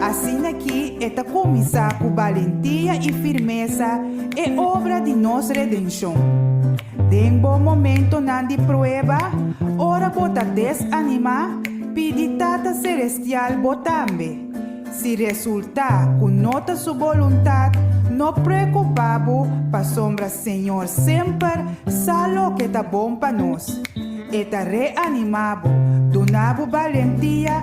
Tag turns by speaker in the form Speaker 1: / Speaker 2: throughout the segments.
Speaker 1: Asina ki e ta kuminsá ku balentia i firmesa e obra di nos redenshon. Den bo momentonan di prueba, ora bo ta desanimá, pidi Tata Selestial bo tambe. Si resultá ku no ta su boluntat, no preokupá bo pasobra Señor semper sa loke ta bon pa nos. E ta reanimá bo, duna bo balentia,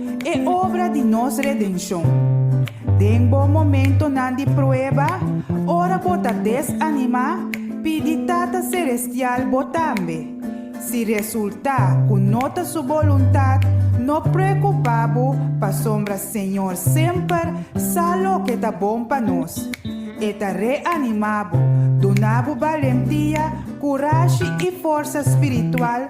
Speaker 1: E obra di nos redenshon. Den bo momentonan di prueba, ora bo ta desanimá, pidi Tata Selestial bo tambe. Si resultá ku no ta su boluntat, no preokupá bo pasobra Señor semper sa loke ta bon pa nos. E ta reanimá bo, duna bo balentia, kurashi i forsa spiritual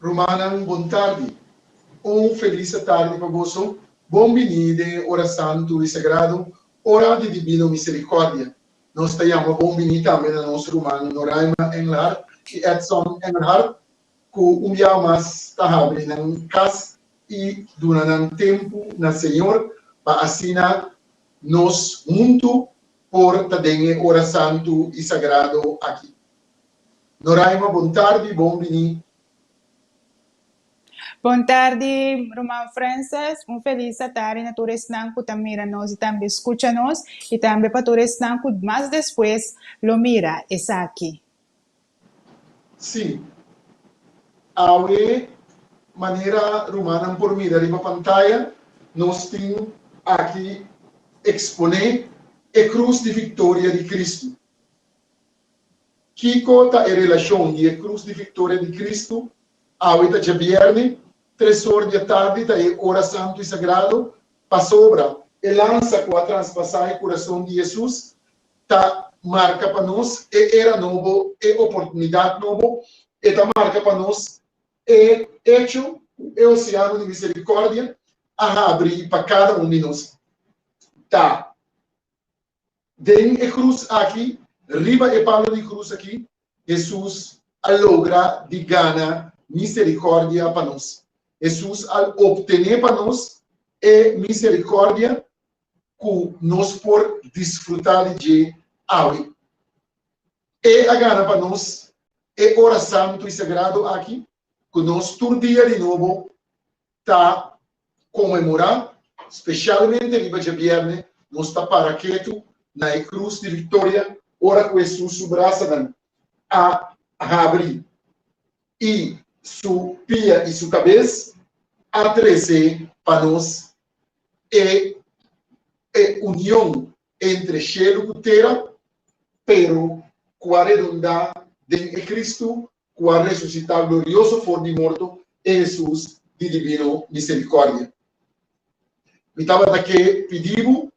Speaker 1: Rumannan bon tardi. Un felisa tardi pa boso. Bon biní den e ora santu i sagrado, ora di Dibino Misericordia. Nos ta yama bon biní tambe na nos ruman Noraima Engelhardt i Edson Engelhardt, ku un biaha mas ta habri nan kas i duna nan tempu na Señor, pa asina nos huntu por ta den e ora santu i sagrado aki. Noraima bon tardi bon bini. Bon tardi ruman Frances un felis a tardi na tur esnan cu ta mira nos y tambe scucha nos y tambe pa tur esnan cu mas despues lo mira esaki. Si. Awe manera rumannan por mira riba pantaya nos tin aki expone e cruz di victoria di Cristo. Kiko ta e relashon di e krus di viktoria di Kristu? Awe ta djabièrnè, tres or di atardi ta e ora santu i sagrado. Pasobra, e lansa ku a transpasá e kurason di Hesus ta marka pa nos e era nobo, e oportunidat nobo. E ta marka pa nos e echo ku e oseano di miserikòrdia a habri pa kada un di nos. Ta. Den e krus aki, riba e palo di krus aki, Hesus a logra di gana miserikòrdia pa nos. Hesus a optené pa nos e miserikòrdia ku nos por disfrutá di dje awe. E a gana pa nos e ora santu i sagrado aki ku nos tur dia di nobo ta konmemorá, spesialmente riba djabièrnè, nos ta para ketu na e krus di viktoria ora ku Hesus su brasanan a habri i su pia i su kabes a trese pa nos e e union entre shelu ku tera, pero ku a redondá den e Kristu ku a resusitá glorioso for di morto, e Hesus di dibino miserikòrdia. Mi tabata ke pidi bo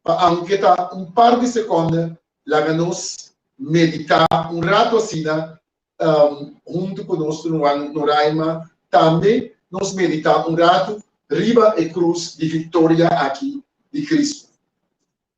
Speaker 1: pa aunke ta un par di sekònda laga nos meditá un ratu asina huntu ku nos ruman Noraima. Tambe nos meditá un ratu riba e krus di viktoria aki di Kristu.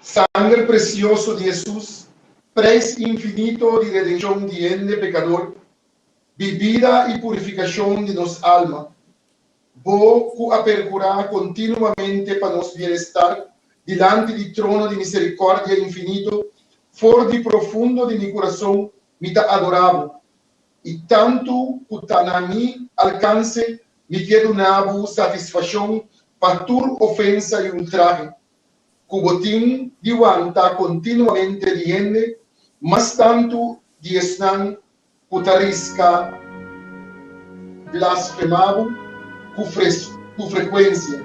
Speaker 1: Sanger presioso di Hesus, preis infinito di redenshon di hende pekador, bibida i purifikashon di nos alma. Bo ku a perkurá kontinuamente pa nos bienestar dilanti di trono di miserikòrdia infinito, for di profundo di mi kurason mi ta adorá bo, i tantu ku ta na mi alkanse mi ke duna bo satisfashon pa tur ofensa i ultrahe ku bo tin di wanta kontinuamente di hende, mas tantu di esnan ku ta riska blasfemá bo ku frekuensia.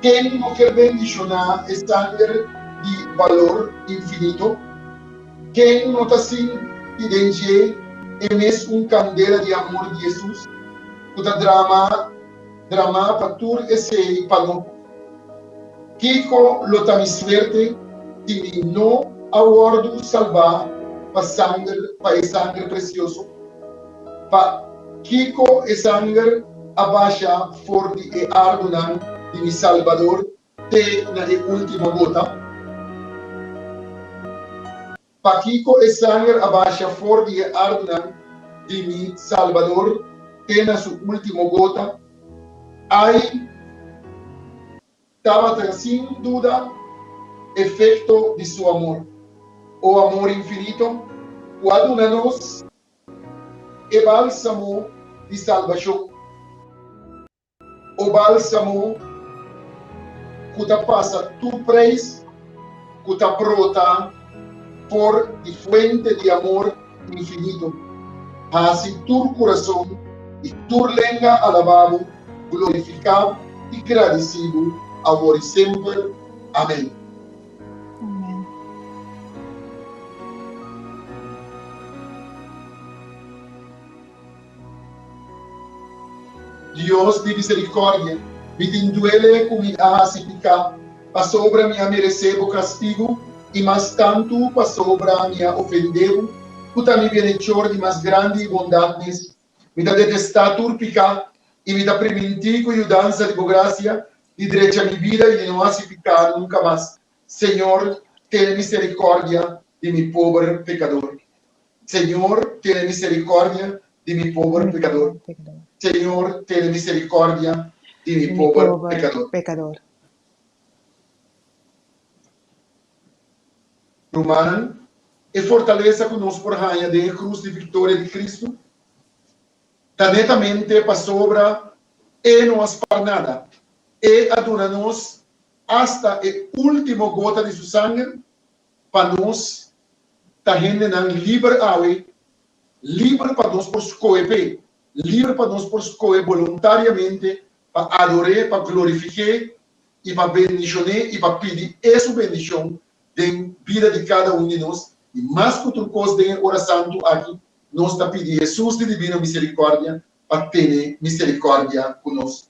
Speaker 1: Ken no ke bendishoná e sanger di balor infinito? Ken no ta sinti den dje e mes un kandela di amor di Hesus ku ta dramá Dramá pa tur esei pa lo. Kiko lo ta mi suerte si mi no a wòrdu salbá pa sanger, pa e sanger presioso? Pa kiko e sanger a basha for di e arbonan di mi Salbador te na e último gota? Pakico e sanger a basha for di e ardnan di mi Salbador te na su ultimo gota? Ai tabata sin duda efecto di su amor, o amor infinito cu a duna nos e balsamo di salbacion. O bálsamo ku ta pasa tur preis ku ta brota for di fuente di amor infinito, hasi tur kurason i tur lenga alabá Bo, glorifiká i gradisí Bo, awor i semper. Amén. Dios di misericordia, mi tin duele cu mi a haci pica, pasobra mi a merece bo castigo, y mas tanto pasobra mi a ofende bo, cu ta mi bienhechor di mas grandi bondad mes. Mi ta detesta tur pica, y mi ta priminti cu yudanza di bo gracia di drecha mi bida y di no haci pica nunca mas. Señor, tene misericordia di mi pober pecador. Señor, tene misericordia di mi pober pecador. Señor, tene misericordia di mi pober pecador. Rumannan, e fortalesa cu nos por haña den e cruz di victoria di Cristo ta netamente pasobra E no a spar nada. E a duna nos. asta e ultimo gota di su sanger, pa nos ta hendenan liber awe, liber pa nos por skohe p'e, liber pa nos por skohe boluntariamente pa ador'é, pa glorifiqué i pa bendishon'é i pa pidi e su bendishon den bida di kada un di nos. I mas ku tur kos den e ora santu aki nos ta pidi Hesus di dibino miserikòrdia pa tene miserikòrdia ku nos.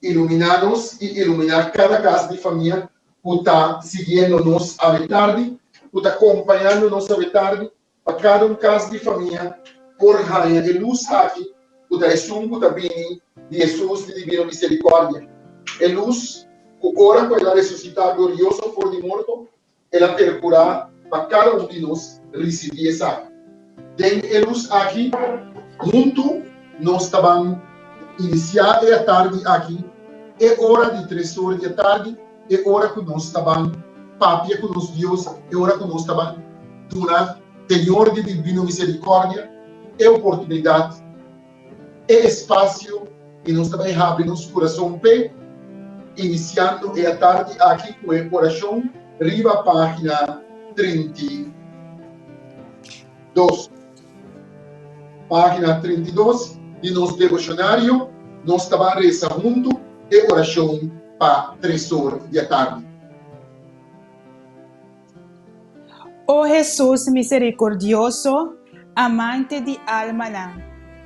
Speaker 1: Ilumina nos i ilumina kada kas di famia ku ta siguiendo nos awe tardi, ku ta kompañando nos awe tardi, pa kada un kas di famia por haña e lus aki ku ta esun ku ta bini di Hesus di divino miserikòrdia, e lus ku ora ku el a resusitá glorioso for di morto El a perkurá pa kada un di nos risibí esaki. Den e lus aki, huntu nos ta ban inisiá e atardi aki, e ora di tres or di atardi, e ora ku nos ta ban papia ku nos Dios, e ora ku nos ta ban duna Señor di Dibino Miserikòrdia e oportunidat, e espasio i nos ta bai habri nos kurason p'e, inisiando e atardi aki ku e orashon riba página trinta i dos. Página trinta i dos di nos devoshonario nos ta ban resa huntu e orashon pa tres or di atardi. O Hesus miserikordioso, Amante di almanan,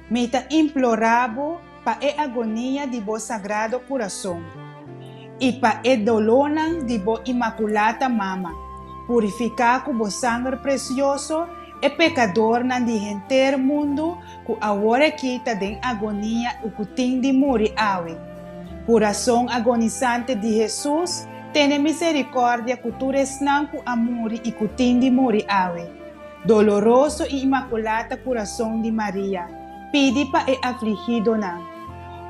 Speaker 1: mi ta implorá Bo pa e agonia di Bo Sagrado Kurason i pa e dolónan di Bo Imakulata Mama, purifiká ku Bo sanger presioso e pekadornan di henter mundu Ku awor aki ta den agonia u ku tin di muri awe. Kurason agonisante di Hesus, tene miserikòrdia ku tur esnan ku a muri i ku tin di muri awe. Doloroso i imakulata kurason di Maria, pidi pa e afligidonan,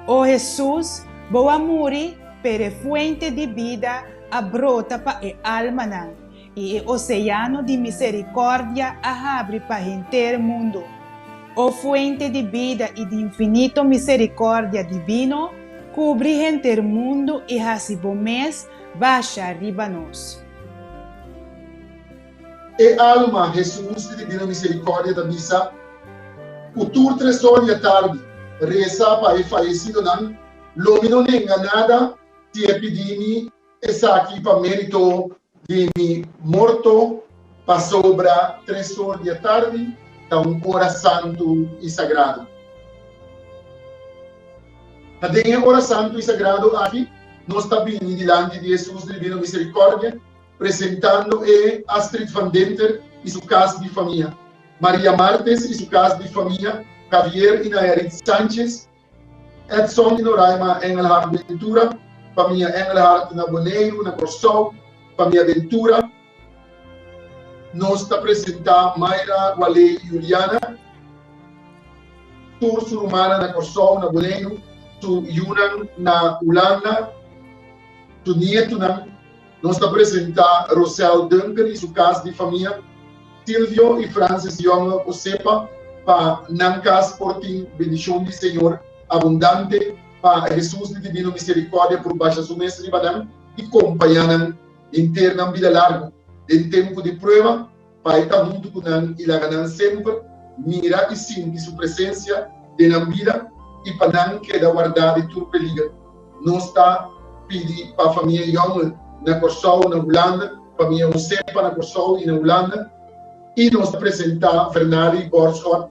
Speaker 1: O Hesus, bo a muri, pero e fuente di bida a brota pa e almanan. I e oseano di miserikòrdia a habri pa henter mundu. O Fuente di bida i di infinito miserikòrdia divino, kubri henter mundu i hasi bo mes basha riba nos. E alma Hesus di Divino Miserikòrdia ta bisa, Ku tur tresò di atardi resa pa e fayesidonan, lo mi no nenga nada ti e pidi mi. Esaki pa mérito di mi morto, pasobra tres or di atardi ta un ora santu i sagradu. Ta den e ora santu i sagradu aki nos ta bini dilanti di e Sus Dribino Miserikòrdia, presentando E. Astrid van Denter i su kas di famia, Maria Martes i su kas di famia, Javier i Nayarit Sánchez Edson i Noraima Engelhard Ventura, Famia Engelhard na Boneiru, na Kòrsou, Famia Ventura. Nos ta presentá Mayra, Waley i Juliana, tur su rumannan na Kòrsou, na Boneiru, su yunan na Hulanda, su nietunan. Nos ta presenta Rosel Duncan y su cas di famia, Silvio y Francis Young Osepa, pa nan cas por tin bendicion di Señor abundante, pa Hesus di divino misericordia por basha su mes riba nan y compaña nan henter nan bida largo den tempo di prueba, Pai ta huntu ku nan i laga nan semper mira i sinti su presensia den nan bida i pa nan keda wardá di tur peliger. Nos ta pidi pa famia Youngel na Kòrsou, na Hulanda, famia Hosepa na Kòrsou i na Hulanda, i nos ta presentá Vernali i Borschot,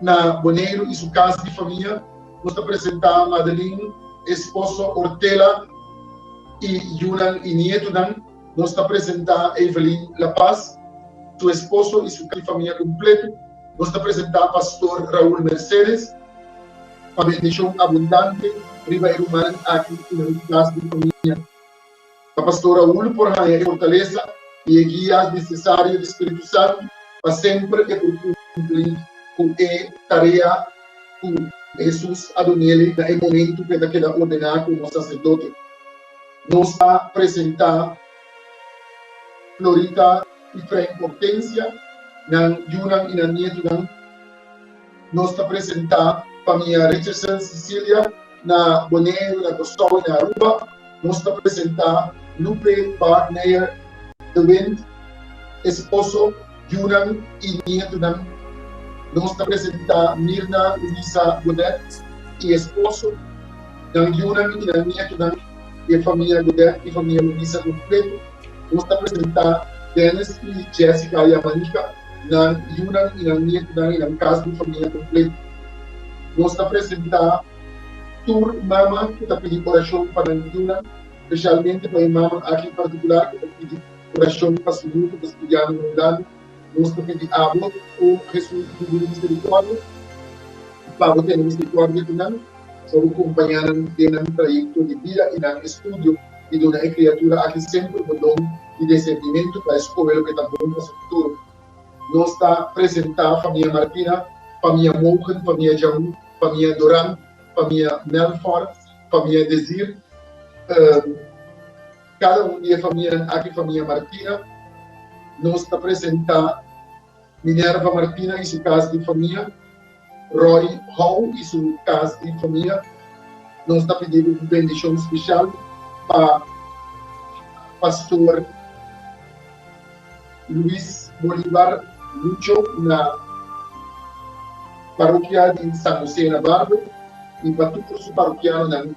Speaker 1: Na Boneiru i su kas di famia, nos ta presentá Madelin, esposo Ortela, i yunan i nietunan. Nos ta presentá Evelyn La Paz, su esposo i su kas di famia kumpletu. Nos ta presentá pastor Raul Mercedes, pa bendishon abundante riba e rumannan aki i na su kas di famia. Ta Pastor Raul por haña e fortalesa i e guia nesesario di spiritu santu pa semper e por kumpli ku e tarea ku Hesus a duna el na e momentu ku e ta keda ordená komo saserdote. Nos ta presentá Florita i Frank Hortensia, nan yunan i nan nietunan. Nos ta presenta Famia Richardson Cecilia na Boneiru na Kòrsou i na Aruba. Nos ta presenta Lupe Baard Meyer de Wint, esposo, yunan i nietunan. Nos ta presenta Mirna Louisa Godet i esposo, nan yunan i nan nietunan i e famia Godet i famia Louisa kompletu. Nos ta presenta Dennis i Jessica Yamanica. nan yunan i nan nietunan i nan kas di famia kompletu. Nos ta presentá tur mama ku ta pidi orashon pa nan yunan, spesialmente pa e mama aki en partikular ku ta pidi orashon pa su yu ku ta studiando Rondando. Nos ta pidi abo, o Hesus di Hubri di Miserikòrdia, pa bo tene miserikòrdia di nan, pa bo kompañá nan den nan trayekto di bida i nan estudio, i duna e kriatura aki semper bo don. di desentimentu pa e skohe loke ta bon pa su futuro. Nos ta presentá famia Martina, famia Mogen, famia Jaun, famia Doran, famia Melfort, famia Desir. Kada un di e famianan aki, famia Martina, nos ta presentá Minerva Martina i su kas di famia, Roy Hou i su kas di famia, nos ta pidi bo un bendishon spesial pa Pastor Luis Bolivar Lucho na Parokia di San Hosé na Barbo i pa tur su parokianonan.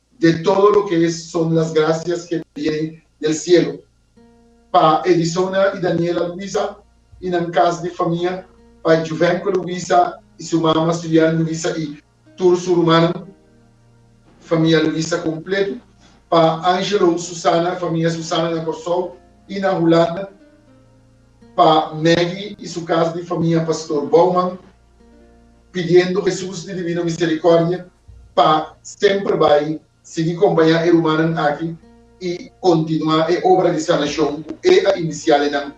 Speaker 1: de todo lo que es son las gracias que viene del cielo. Pa Edisona y Daniela Luisa y nan cas di famia, pa Juvenco Luisa y su mama Sulian Luisa y tur su rumannan, famia Luisa completo, pa Angelo Susana, famia Susana na Corsou y na Hulanda, pa Maggie y su cas di famia, Pastor Bouwman pidiendo Hesus di Divino Misericordia pa semper bai sigui compaña e rumannan aki y continua e obra di sanacion cu e a inicia den nan,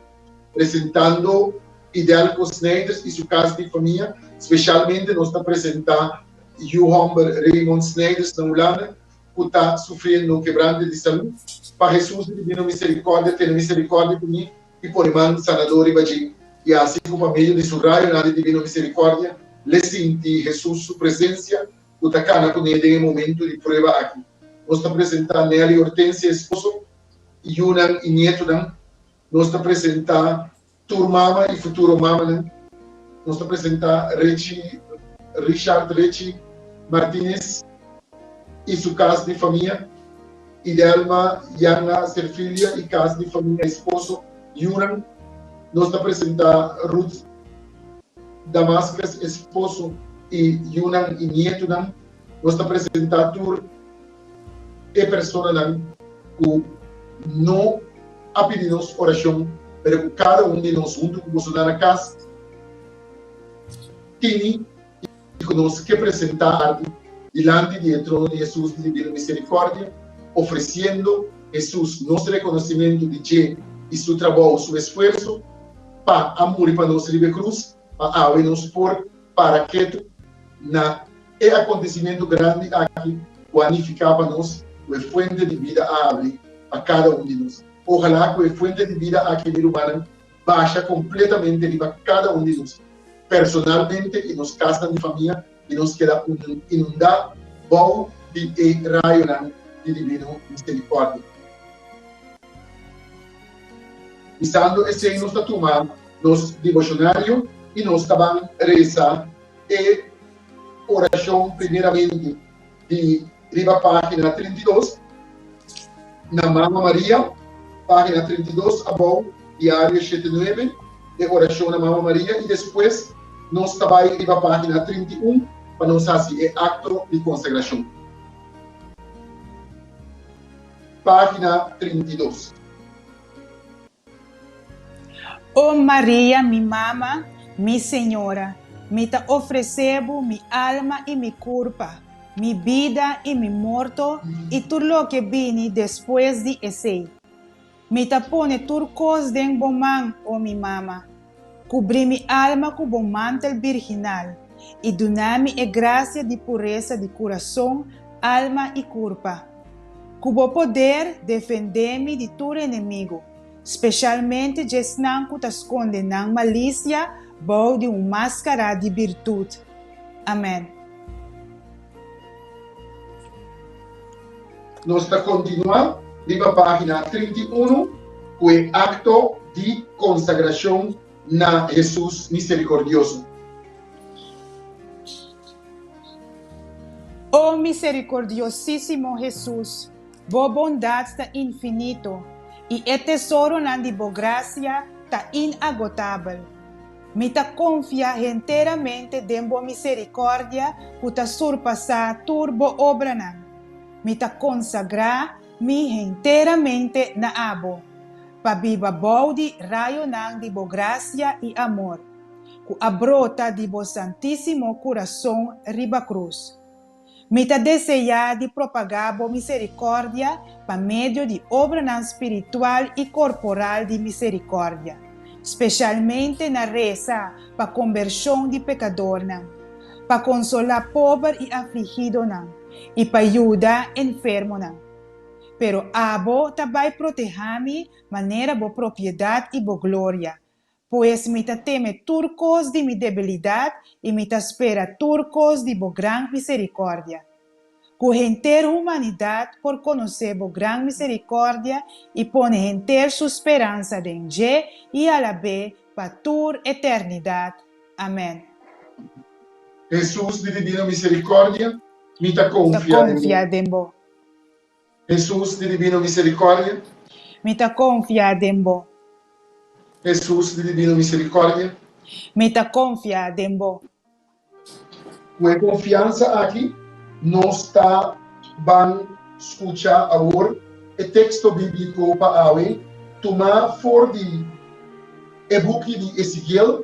Speaker 1: presentando Idelco Snijders y su cas di famia, specialmente nos ta presenta Yu homber Raymond Snijders na Hulanda cu ta sufriendo un quebrante di salud, pa Hesus di Divino Misericordia tene misericordia cu mi i pone man sanadó riba dje, i así ku pa medio di su rayonan di divino miserikòrdia le sinti Hesus su presensia ku ta kana ku ne den e momentu di prueba aki. Nos ta presentá Nelly Hortensia esposo, i yunan i nietunan. Nos ta presentá tur mama i futuro mamanan. Nos ta presentá Richie Richard Richie Martinez i su kas di famia. Idelma, Yanna, Serfilia y cas di famia esposo yunan Nos ta presenta Ruth Damascus esposo y yunan y nietunan Nos ta presenta tur e personanan cu no a pidi nos oracion pero cu cada un di nos hunto cu boso na na cas tini i ku nos ke presentá arki dilanti di e trono di Hesus di Divino Miserikòrdia, ofresiendo Hesus nos rekonosimentu di dje i Su trabou, Su esfuerso, pa a muri pa nos riba e krus, pa awe nos por para ketu na e akontesimentu grandi aki ku a nifiká pa nos ku e fuente di bida a habri pa kada un di nos. Ojalá ku e fuente di bida aki, mi rumannan, basha kompletamente riba kada un di nos personalmente i nos kasnan di famia i nos keda inundá bou di e rayonan di Divino Miserikòrdia. Usando esei nos ta tuma nos deboshonario i nos ta ban resa e orashon primeramente. di riba página trinta i dos na Mama Maria, página trinta i dos abou, Diario shete nuebe, e orashon na Mama Maria, i despues nos ta bai riba página trinta i un pa nos hasi e akto di konsagrashon. Página trinta i dos. O Maria, mi mama, mi Señora, mi ta ofresé Bo mi alma i mi kurpa, mi bida i mi morto i tur loke bini despues di esei. Mi ta pone tur kos den Bo man, o mi mama. Kubrí mi alma ku Bo mantel birginal, i duna mi e grasia di puresa di kurason, alma i kurpa. Ku Bo poder, defendé mi di tur enemigu, speshalmente djesnan ku ta skonde nan malisia bou di un máskará di birtut. Amèn. Nos ta kontinuá riba página trinta i unu ku e akto di konsagrashon na Hesus Miserikordioso. O miserikordiosísimo Hesus! Bo bondat ta infinito, i e tesoronan di bo gracia ta inagotabel. Mi ta confia henteramente den bo misericordia cu ta surpasa tur bo obranan. Mi ta consagra mi henteramente na abo, pa biba bou di rayonan di bo gracia i amor, cu a brota di bo santisimo curason riba cruz. Mi ta deseá di propagá bo miserikòrdia pa medio di obranan spiritual i korporal di miserikòrdia, spesialmente na resa pa kombershon di pekadornan, pa konsolá pober i afligidonan i pa yuda enfermonan. Pero abo ta bai protehá mi manera bo propiedat i bo gloria, Pues mi ta teme tur kos di mi debilidat i mi ta spera tur kos di bo gran miserikòrdia, ku henter humanidat por konosé bo gran miserikòrdia i pone henter su speransa den dje i alabé pa tur eternidat. Amèn. Hesus di Divino Miserikòrdia, mi ta konfia den bo. Hesus di Dibino Miserikòrdia. Mi ta konfia den bo. Hesus di Dibino Miserikòrdia. Mi ta konfia den bo. Ku e konfiansa aki nos ta ban skucha awor e teksto bíbliko pa awe tumá for di e buki di Esekiel.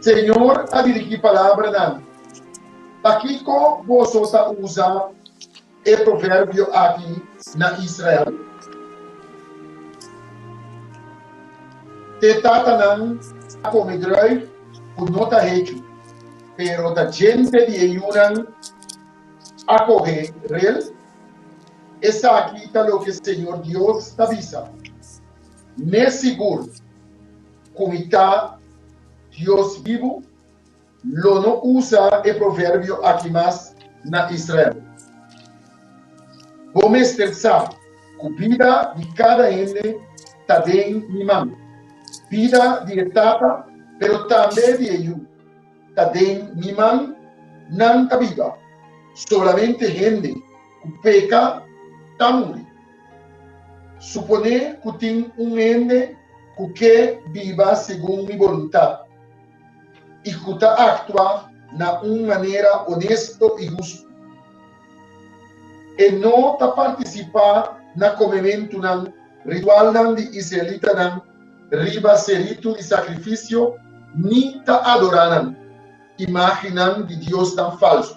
Speaker 1: Señor a dirigí palabranan. Pakiko boso ta usa e proverbio aki na Israel? Te tatanan a kome druif ku no ta hechu, pero ta djente di e yunan a kohe rel? Esaki ta loke Señor Dios ta bisa, Mes sigur! Kumita Dios bibu, lo no usa e proverbio aki mas na Israel. Bo mester sa ku bida di kada hende ta den mi man. Bida di e tata, pero tambe di e yu, ta den mi man, nan ta biba. Solamente hende ku peka ta muri. Suponé ku tin un hende ku ke biba segun mi boluntat i ku ta aktua na un manera onesto i hustu. E no ta partisipá na komementunan ritualnan di israelitanan riba se ritu di sakrifisio ni ta adorá nan imágennan di diosnan falsu.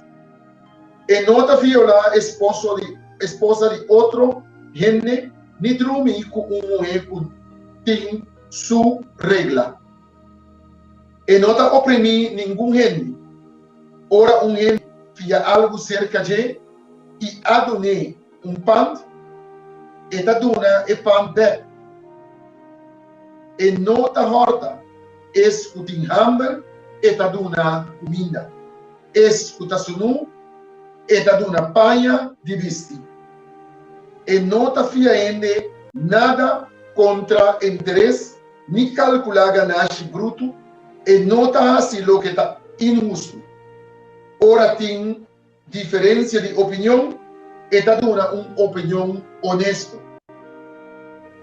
Speaker 1: E no ta violá esposa di otro hende ni drumi ku un muhé ku tin su regla. E no ta oprimí ningun hende. Ora un hende fia algu serka dje i a dun'é un pant, e ta duna e pant bèk. E no ta hòrta es ku tin hamber, e ta duna kuminda. Es ku ta sunú, e ta duna paña di bisti. E no ta fia hende nada kontra e interes, ni kalkulá ganashi brutu, e no ta hasi loke ta inhustu. Ora tin diferensia di opinion, e ta duna un opinion onesto.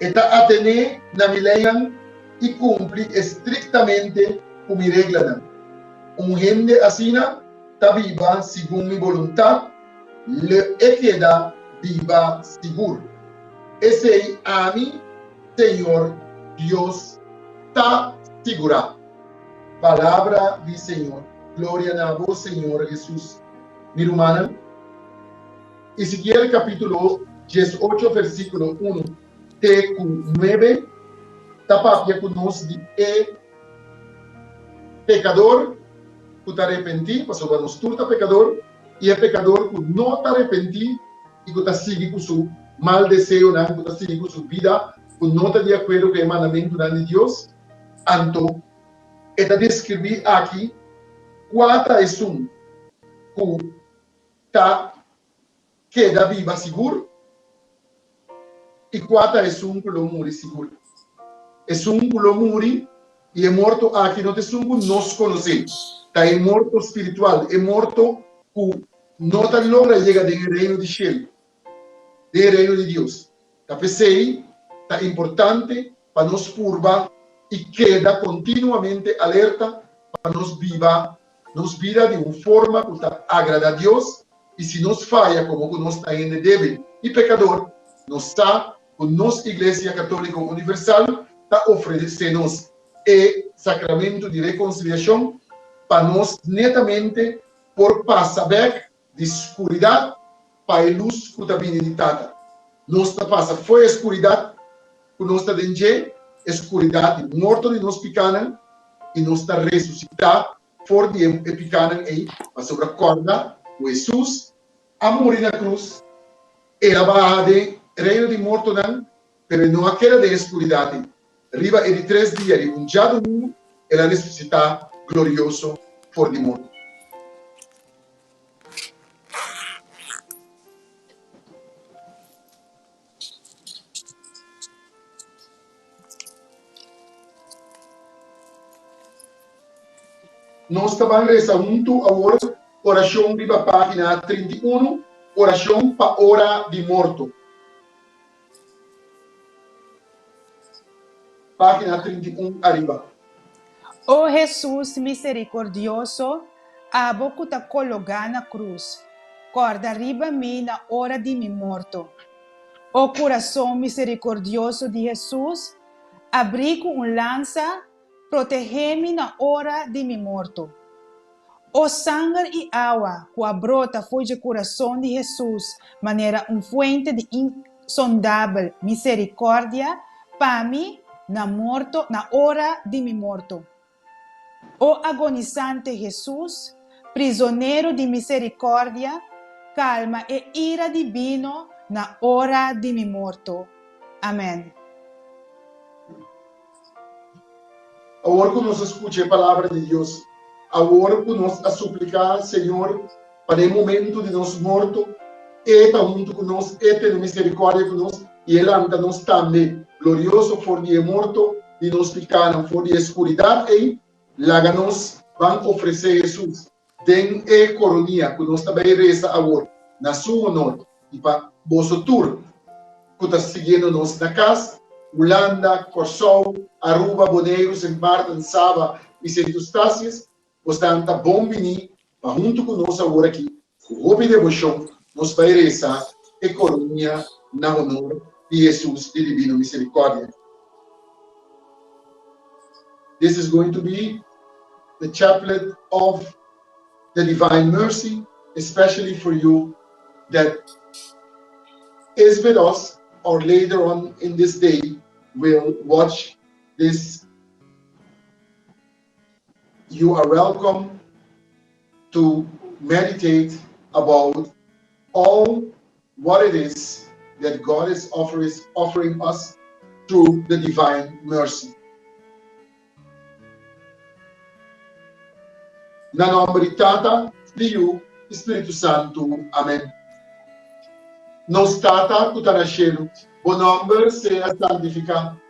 Speaker 1: E ta atené na mi leinan i kumpli estriktamente ku mi reglanan. Un hende asina ta biba segun mi boluntad, lë e keda biba sigur. Esei ami, señor Dios, ta sigurá. Palabra di Señor. Gloria na bo, Señor Hesus. Mi rumannan, Ezekiel capítulo dies ocho versículo uno te cu nuebe ta papia cu nos di e Pekador ku ta repentí, pasobra nos tur ta pekador, i e pekador ku no ta repentí i ku ta sigui ku su mal deseonan, ku ta sigui ku su bida ku no ta di akuerdo ku e mandamentunan di Dios, anto e ta deskribí aki kua ta esun ku ta. Keda biba sigur, i kua ta esun ku lo muri sigur? Esun ku lo muri i e morto aki no ta esun ku nos konosé. Ta e morto spiritual, e morto ku no ta logra yega den e reino di shelu, den e reino di Dios. Ta p'esei ta importante pa nos purba i keda kontinuamente alerta pa nos biba nos bida di un forma ku ta agrada Dios. I si nos faya komo ku nos ta hende débil i pekador, nos sa ku nos Iglesia Katóliko Universal ta ofresé nos e Sakramentu di Rekonsiliashon pa nos netamente por pasa bèk Di skuridat pa e lus ku ta bini di Tata. Nos ta pasa fo'i e skuridat ku nos ta den dje, e skuridat di morto di nos pikánan, i nos ta resusitá for di e pikánan ei, pasobra kòrda ku Hesus a muri na krus, e a baha den reino di mortonan, pero e no a keda den e skuridat ei. Riba e di tres dia di un djadumingu el a resusitá glorioso for di morto. Nos ta ban resa huntu awor orashon riba página trinta i unu, Orashon pa ora di morto. Página trinta i un ariba. O Hesus miserikordioso, abo ku ta kologá na krus, kòrda riba mi na ora di mi morto. O kurason miserikordioso di Hesus, abrí ku un lansa Protehé mi na ora di mi morto. O sanger i awa ku a brota for dje kurason di Hesus manera un fuente di insondabel miserikòrdia pa mi na morto, na ora di mi morto. O agonisante Hesus, prizonero di miserikòrdia, kalma e ira di bino na ora di mi morto. Amèn. Awor ku nos a skucha e palabra di Dios, awor ku nos a supliká Señor pa den e momentu di nos morto E ta huntu ku nos, E tene miserikòrdia ku nos i E lanta nos tambe glorioso for di e morto di nos pikánan, for di e skuridat ei, laga nos ban ofresé Hesus. Den e koronia ku nos ta bai resa awor na Su honor i pa boso tur ku ta siguiendo nos na kas, Hulanda, Kòrsou, Aruba, Boneiru, Sint Maarten, Saba i Sint Eustatius, bosan ta bon biní pa huntu ku nos awor aki ku hopi devoshon Nos bai resa e coronia na honor di Hesus di Divino Misericordia. This is going to be the chaplet of the Divine Mercy especially for you that is with us or later on in this day will watch this. You are welcome to meditate about all what it is that God is offering us through the divine mercy. Na nomber di Tata, di Yu, di Spiritu Santu. Amen. Nos Tata cu ta na Cielo, bo nomber sea santifica.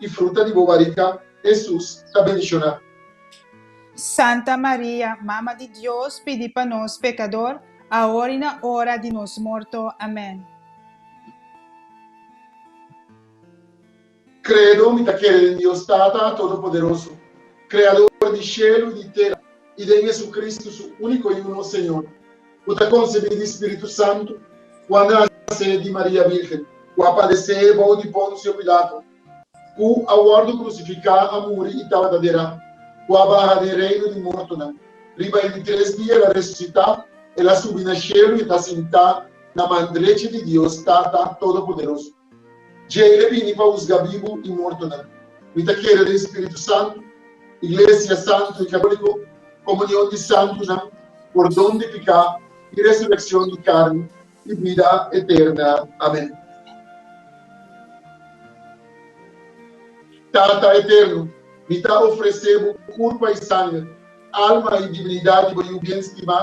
Speaker 1: I fruta di bo barika, Hesus, ta bendishoná. Santa Maria, Mama di Dios, pidi pa nos pekador, aor i na ora di nos morto. Amèn. Kredo, Mi ta kere den Dios Tata Todopoderoso, Kreador di shelu i di tera, i den JesuCristu, Su úniko i uno Señor, ku ta konsebí di spiritu santu, ku a nase di Maria Virgen, ku a padesé bou di Ponsio Pilato, ku a wòrdu krusifiká, a muri i tabata derá, ku a baha den reino di mortonan. Riba e di tres dia el a resusitá, el a subi na shelu i ta sintá na man drechi di Dios, Tata Todopoderoso. Djei e bini pa husga bibu i mortonan. Mi ta kere den spiritu santu, iglesia santu i katoliko, komunion di santunan, pordon di piká i resurekshon di karni, i bida eterna. Amen. Tata eternu, mi ta ofresé bo kurpa i sanger, alma i dibinidat di bo Yu bien stimá,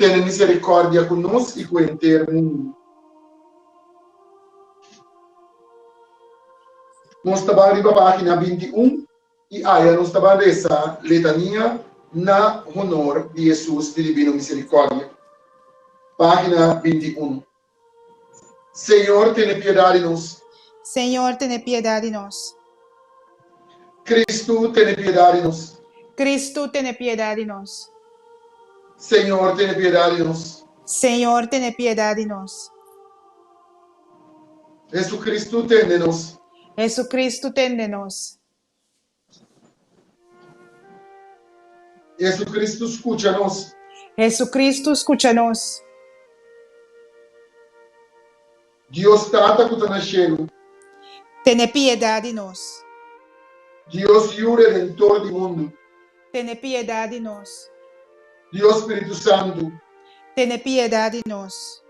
Speaker 1: tene misericordia cu nos y cu henter mundo. Nos ta ban riba pagina binti un y aya nos ta ban reza letania na honor di Hesus di Divino Misericordia. Pagina binti uno. Señor, tene piedad di nos. Señor, tene piedad di nos. Cristo, tene piedad di nos. Cristo, tene piedad di nos. Señor, tene piedad di nos. Señor, tene piedad di nos. Jesucristo, tende nos. Jesucristo, tende nos. Jesucristo scucha nos. Jesucristo scucha nos. Dios Tata cu ta na shelu. Tene piedad di nos. Dios Yu Redentor di mundu. Tene piedad di nos. Dios Spiritu Santu. Tene piedad di nos.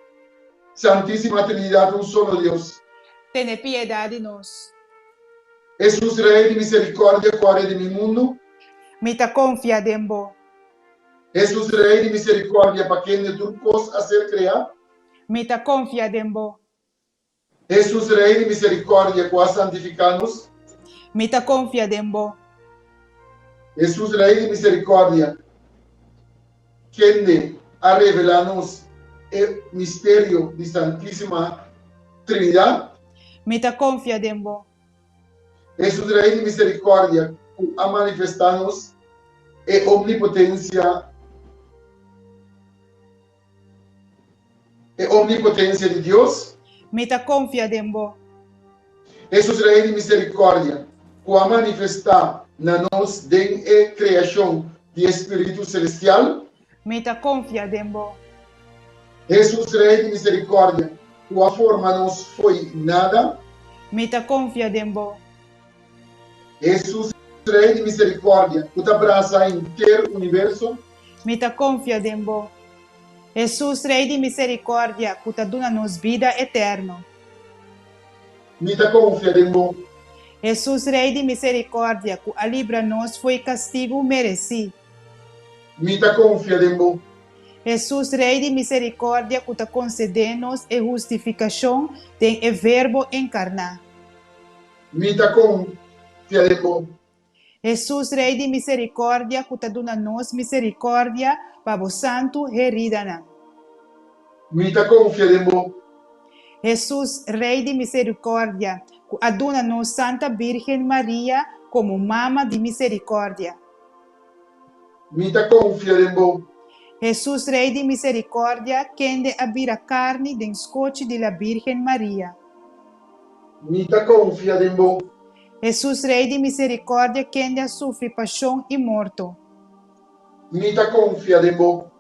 Speaker 1: Santisima Trinidad un solo Dios. Tene piedad di nos. Hesus, Rei di miserikòrdia, kòrda di mi mundu. Mi ta konfia den bo. Hesus, Rei di miserikòrdia, pa kende tur kos a ser kreá. Mi ta konfia den bo. Hesus, Rei di miserikòrdia, ku a santifiká nos. Mi ta konfia den bo. Hesus, Rei di miserikòrdia, kende a revelá nos e misterio di Santísima Trinidat. Mi ta konfia den bo. E su trae di miserikòrdia ku a manifestá nos e omnipotensia, e omnipotensia di Dios. Mi ta konfia den bo. E su trae di miserikòrdia ku a manifestá na nos den e kreashon di e spiritu selestial. Mi ta konfia den bo. Hesus Rei di miserikordia. Ku a forma nos fo'i nada. Mi ta konfia den bo. Hesus Rei di miserikordia. Ku ta brasa henter universo. Mi ta konfia den bo. Hesus Rei di miserikordia. Ku ta duna nos bida eterno. Mi ta konfia den bo. Hesus Rei di miserikordia. Ku a libra nos fo'i kastigu meresi. Mi ta konfia den bo. Hesus, Rei di miserikordia ku ta konsedé nos e hustifikashon den e Verbo enkarná. Mi ta konfia den bo. Hesus, Rei di miserikordia ku ta duna nos miserikordia pa bo santu heridanan. Mi ta konfia den bo. Hesus, Rei di miserikordia ku a duna nos Santa Bírgen Maria komo Mama di Miserikordia. Mi ta konfia den Bo. Hesus Rei di miserikordia, kende a bira karni den skochi di la Bírgen Maria. Mi ta konfia den Bo. Hesus Rei di miserikordia, kende a sufri pashon i morto. Mi ta konfia den Bo.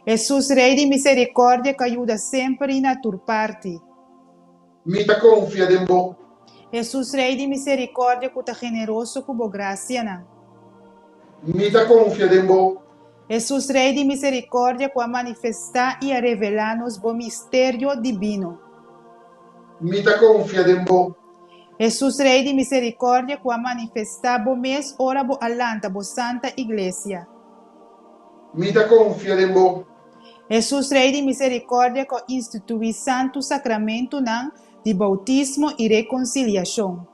Speaker 1: Hesus Rei di miserikordia, ku a yuda semper i na tur parti. Mi ta konfia den bo. Hesus Rei di miserikordia ku ta generoso ku bo grasianan. Mi ta konfia den bo. Hesus Rei di miserikordia ku a manifestá i a revelá nos bo misterio dibino. Mi ta konfia den bo. Hesus Rei di miserikordia ku a manifestá bo mes ora bo a lanta bo santa iglesia. Mi ta konfia den bo. Hesus, Rei di Misericordia, cu a institui santu sacramentunan di bautismo y reconciliacion.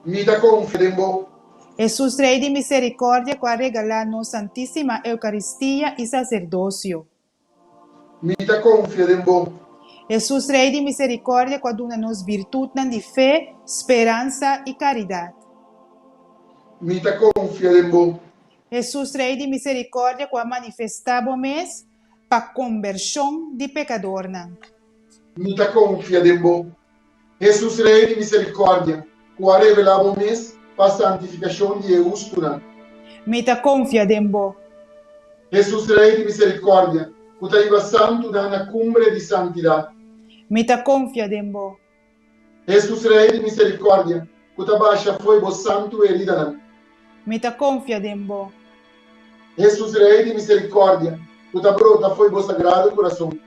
Speaker 1: Mi ta confia den bo. Hesus, Rei di Misericordia, cu a regala nos Santisima Eucaristia y Sacerdocio. Mi ta confia den bo. Hesus, Rei di Misericordia, cu a duna nos virtutnan di fe, speransa y caridad. Mi ta confia den bo. Hesus Rei di Misericordia cu a manifesta bo mes pa conversion di pecadornan. Mi ta confia den bo, Hesus Rei di Misericordia, cu a revela bo mes pa santificacion di e hustunan. Mi ta confia den bo. Hesus Rei di Misericordia, cu ta iba santunan na cumbre di santidad. Mi ta confia den bo. Hesus Rei di misericordia. Cu ta basha fo'i bo santu heridanan. Mi ta confia den bo. Hesus Rei di misericordia. Cu ta brota fo'i bo sagrado curason.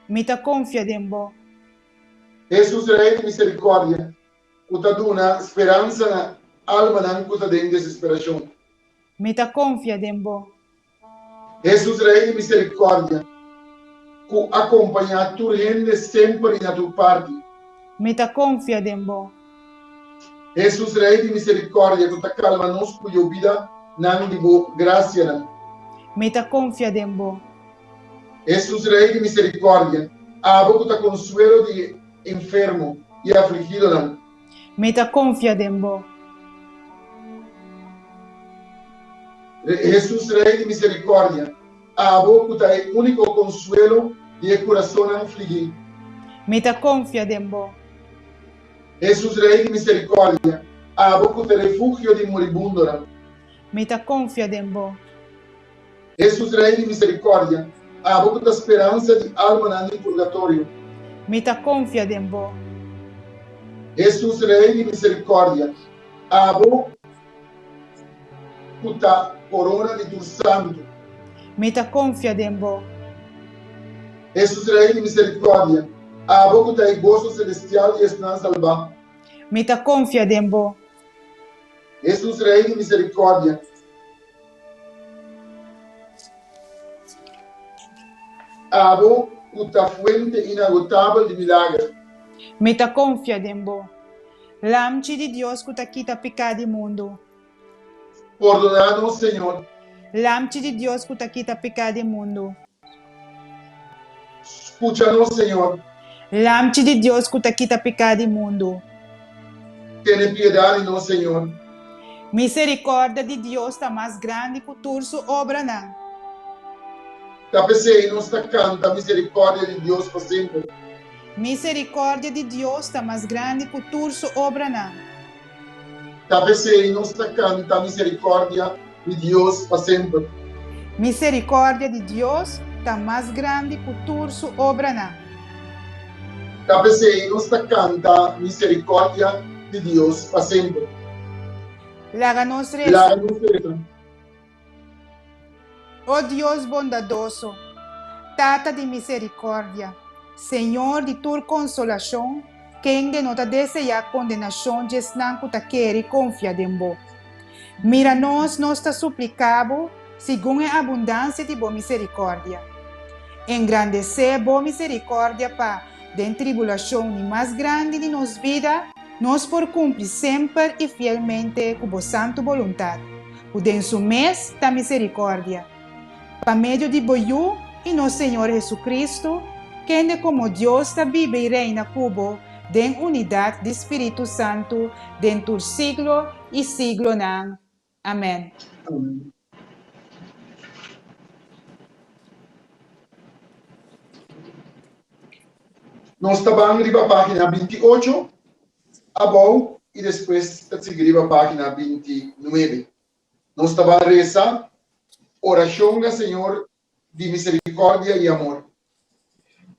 Speaker 1: Mi ta confia den bo. Hesus Rei di misericordia. Cu ta duna speransa na almanan cu ta den desesperacion. Mi ta confia den bo. Hesus, Rei di miserikòrdia, ku a kompañá tur hende semper i na tur parti. Mi ta konfia den bo. Hesus, Rei di miserikòrdia, ku ta kalma nos ku yobida nan di bo grasianan. Mi ta konfia den bo. Hesus, Rei di miserikòrdia, abo ku ta konsuelo di enfermo i afligidonan. Mi ta konfia den bo. Hesus Rei di miserikòrdia. Abo ku ta e úniko konsuelo di e kurasonnan fligí. Mi ta konfia den bo. Hesus Rei di miserikòrdia. Abo ku ta refugio di muribundonan. Mi ta konfia den bo. Hesus Rei di Miserikòrdia, abo ku ta speransa di almanan di purgatorio. Mi ta konfia den bo. Hesus Rei di Miserikòrdia, abo ku ta korona di tur santu. Mi ta konfia den bo. Hesus Rei di Miserikòrdia, abo ku ta e goso selestial di esnan salbá. Mi ta konfia den bo. Hesus Rei di Miserikòrdia. Abo ku ta fuente inagotabel di milager. Mi ta konfia den bo. Lamchi di Dios ku ta kita peká di mundu. Pordoná nos, Señor. Lamchi di Dios ku ta kita peká di mundu. Scucha nos, Señor. Lamchi di Dios cu ta kita pecá di mundu. Tene piedad di nos, Señor. Misericordia di Dios ta mas grandi cu tur su obranan. Ta pesey nos ta canta misericordia di Dios pa semper. Misericordia di Dios ta mas grandi cu tur su obranan. Ta pesey nos ta canta misericordia di Dios pa semper. Misericordia di Dios ta mas grandi cu tur su obranan. Ta pesey nos ta canta misericordia di Dios pa semper. Laga nos reza. O Dios bondadoso, Tata di misericordia, Señor di tur consolacion, kende no ta deseá condenacion dje esnan cu ta kere confia den bo. Mira nos, nos ta suplica bo segun e abundancia di bo misericordia. Engrandecé bo misericordia pa, den tribulacion ni mas grandi di nos vida, nos por cumpli semper y fielmente cu bo santu boluntad, ku den su mes ta miserikordia, pa medio di bo Yu i nos Señor Hesukristu, kende komo Dios ta biba i reina ku bo den unidat di spiritu santu den tur siglo i siglonan. Amèn. Nos ta ban riba página binti ocho. Abou i despues ta sigui riba pagina binti nuebe. Nos ta ban resa Orashonga Señor di Misericordia i Amor.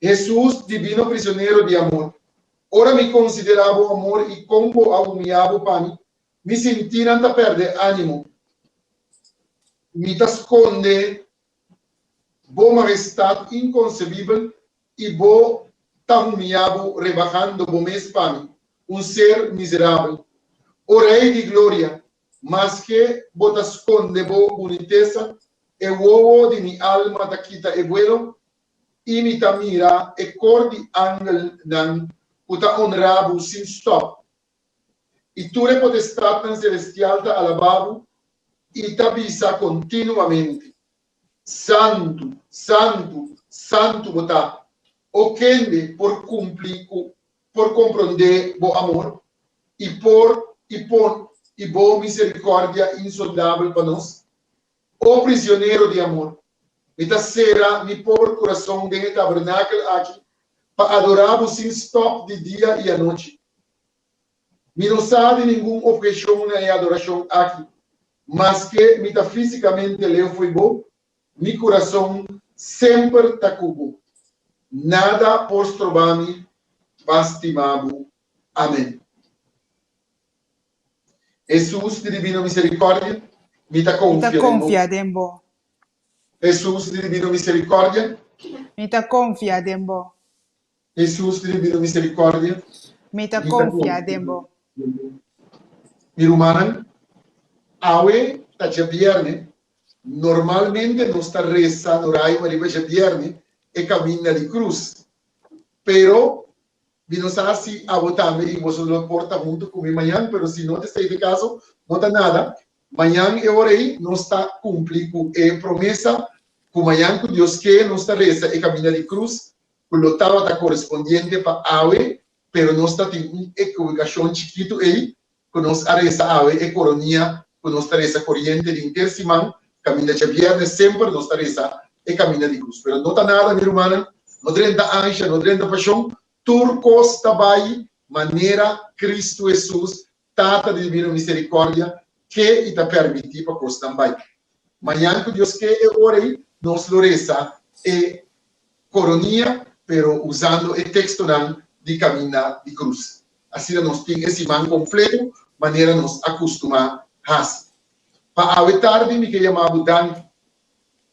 Speaker 1: Hesus, Divino Prisionero di Amor, ora mi considera Bo amor i con Bo a humia Bo pa mi, mi sintinan ta perde animo. Mi ta sconde Bo Majestad inconcebibel I bo ta humia bo rebahando bo mes pa mi, un ser miserabel. O Rei di Gloria, maske bo ta skonde bo bunitesa, e wowo di mi alma ta kita e buelo, i mi ta mira e kor di angelnan ku ta onrá bo sin stòp. I tur e potestatnan selestial ta alabá bo i ta bisa kontinuamente. Santu, santu, santu bo ta. O kende por kumpli ku, por komprondé bo amor? I por, i pon, i bo miserikòrdia insondabel pa nos? O prisionero di amor, mi ta sera mi pober kurason den e tabernakel aki pa adorá bo sin stòp di dia i anochi. Mi no sa di ningun obhecion na e adoracion aki. Maske mi ta fisicamente leu fo'i bo, mi curason semper ta cu bo. Nada por stroba mi pa stima bo. Amen. Hesus di Divino Misericordia, mi ta confia den bo. Hesus di Divino Misericordia. Mi ta confia den bo. Hesus ribi no misericordia. Mi ta confia den bo. Mi rumannan, awe ta djabièrnè, normalmente nos ta resa no raima riba djabièrnè e caminda di cruz. Pero mi no sa si abo tambe i boso lo por ta hunto cu mi mañan, pero si no ta esei ta e caso, no ta nada, mañan e ora ei nos ta cumpli cu e promesa cu mañan cu Dios ke nos ta resa e caminda di cruz ku lo tabata korespondiente pa awe, pero nos ta tin un ekibikashon chikitu ei ku nos a resa awe e koronia ku nos ta resa koriente di henter siman kaminda djabièrnes semper nos ta resa e kaminda di krus. Pero no ta nada mi rumannan, no drenta ansha, no drenta pashon, tur kos ta bai manera Kristu Hesus Tata di Dibino Misericordia ke i ta permiti pa kosnan bai. Mañan ku Dios ke e ora ei nos lo resa e Koronia pero usando e tekstonan di Kaminda di Krus. Asina nos tin e siman kompleto manera nos a kustumá hasi. Pa awe tardi mi ke yama bo danki.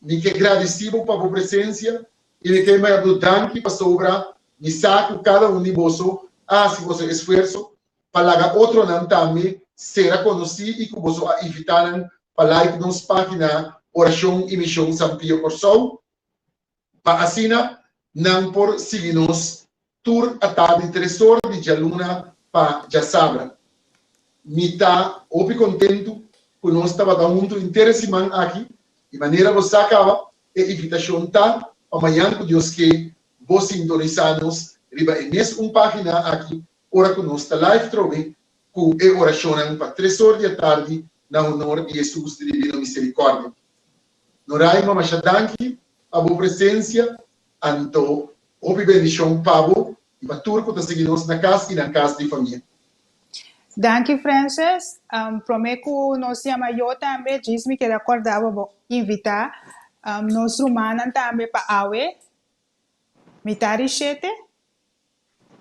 Speaker 1: Mi ke gradisi bo pa bo presensia i mi ke yama bo danki pasobra mi sa ku kada un di boso a hasi boso esfuerso pa laga otronan tambe sera konosí i ku boso a invitá nan pa like nos página Orashon i Mishon San Pio Kòrsou, pa asina nan por sigui nos tur atá di tres ora di djaluna pa djasabra. Mi ta hopi kontentu ku nos tabata huntu henter e siman aki i manera bo sa kaba, e invitashon ta pa mañan ku Dios ke bo sintonisá nos riba e mes un página aki ora cu nos ta live trobe cu e oracionnan pa tres or di e tardi na honor di Hesus di Divino Misericordia. Noray ma masha danki pa bo presencia anto hopi bendicion pa bo y pa tur cu ta sigui nos na cas y na cas di famia. Danki Frances, prome cu nos yama yo tambe djis mi keda corda bo bo invita nos rumannan tambe pa awe, mi ta rishete.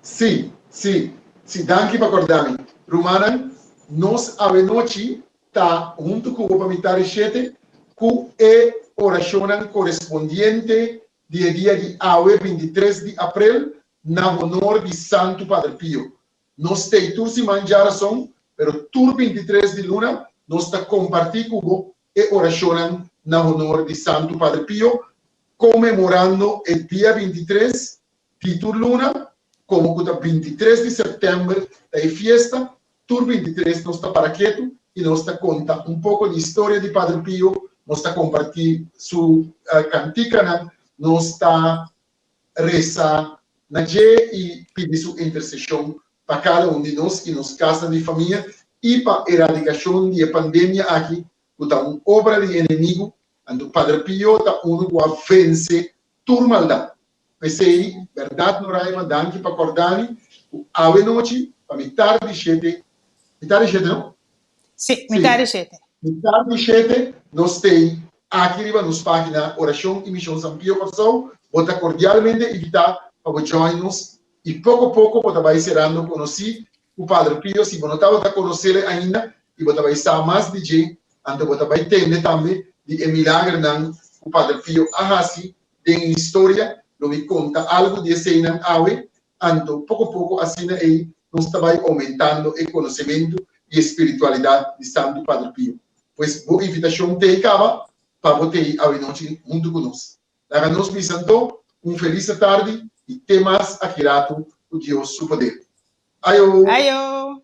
Speaker 1: Sí, sí, sí, danki pa korda mi. Rumannan, nos awenochi ta huntu ku bo pa mi tardi shete ku e orashonnan korespondiente di e dia di awe bintitres di aprel na honor di Santu Padre Pio. No stay tur siman djarason, pero tur bintitres di luna nos ta kompartí ku bo e orashonnan na honor di Santu Padre Pio, konmemorando e dia bintitres Titur luna, komo ku ta bintitres di sèptèmber ta e fiesta, tur bintitres nos ta para ketu i nos ta konta un poko di historia di Padre Pio, nos ta kompartí su kantikanan, nos ta resa na dje i pidi su interseshon pa kada un di nos i nos kasnan di famia i pa eradikashon di e pandemia aki ku ta un obra di enemigu, anto Padre Pio ta unu ku a vense tur maldat. P'esei, bèrdat Noraima, danki pa kòrdami ku awe nochi, pa mi tardi shete, mi tardi shete no? Sí, mi tardi shete. Sí, mi tardi shete no stay aki riba nos página Orashon i Mishon San Pio Kòrsou. Bo ta kordialmente invitá pa bo join nos i poko poko bo ta bai serando konosí ku Padre Pio. Si bo no tabata konoséle ainda i bo ta bai sa mas di dje, anto bo ta bai tende tambe di e milagernan ku Padre Pio a hasi Den historia lo mi conta algo di eseinan awe, anto poco poco asina ei nos ta bay aumentando e conocemento y e spiritualidad di Santo Padre Pio. Pues bo invitacion t'ei caba pa bo t'ei awenochi hunto cu nos. Laga nos bisa anto un feliz atardi y te mas aki rato cu Dios su poder. Ayo! Ayo!